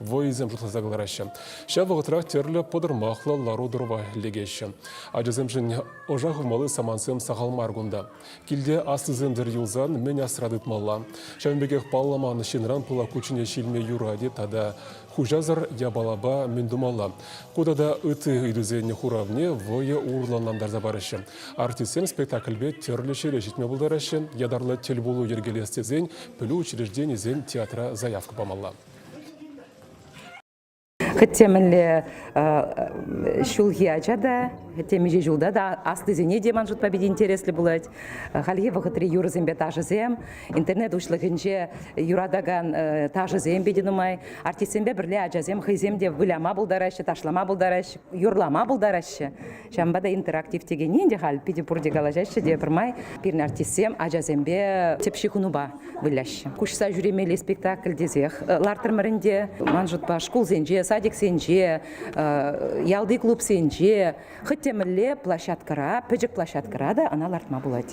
вӑйӑсем шутласа кӑлараҫҫӗ. Ҫав вӑхӑтрах тӗрлӗ пӑтӑрмахлӑ лару-тӑрӑва лекеҫҫӗ. Ачасемшӗн ӑша хывмалли самантсем сахал мар кунта. Килте аслисем-тӗр юлсан мӗн асра тытмалла? Ҫавӑн пекех палламан ҫынран пылак кучченеҫ илме юрать-и тата хуҫасӑр япалапа мӗн тумалла? Ку тата ытти ыйтусен хуравне вӑйӑ урлӑнлантарса параҫҫӗ. Артистсем спектакльпе тӗрлӗ ҫӗре ҫитме пултараҫҫӗ, ятарлӑ тӗл пулу йӗркелес тесен пӗлӳ учрежденийӗсен театра заявка памалла. Хӗтте мӗнле ҫулхи ача та, хӗтте миҫе ҫулта та аслисене те ман шутпа питӗ интереслӗ пулать. Хальхи вӑхӑтри юрӑсемпе ташӑсем, интернет уҫлӑхӗнче юратакан ташӑсем питӗ нумай. Артистсемпе пӗрле ачасем хӑйсем те выляма пултараҫҫӗ, ташлама пултараҫҫӗ, юрлама пултараҫҫӗ. Ҫавӑнпа та интерактив текенни ӗнтӗ халь питӗ пурте калаҫаҫҫӗ те пӗрмай пирӗн артистсем ачасемпе тӗп ҫыхӑнупа выляҫҫӗ. Куҫса ҫӳремелли спектакль тесех лартрӑмӑр ӗнтӗ. Ман шутпа шкулсенче, садиксенче, ялти клубсенче, хӑть те мӗнле площадкӑра, пӗчӗк площадкӑра та ӑна лартма пулать.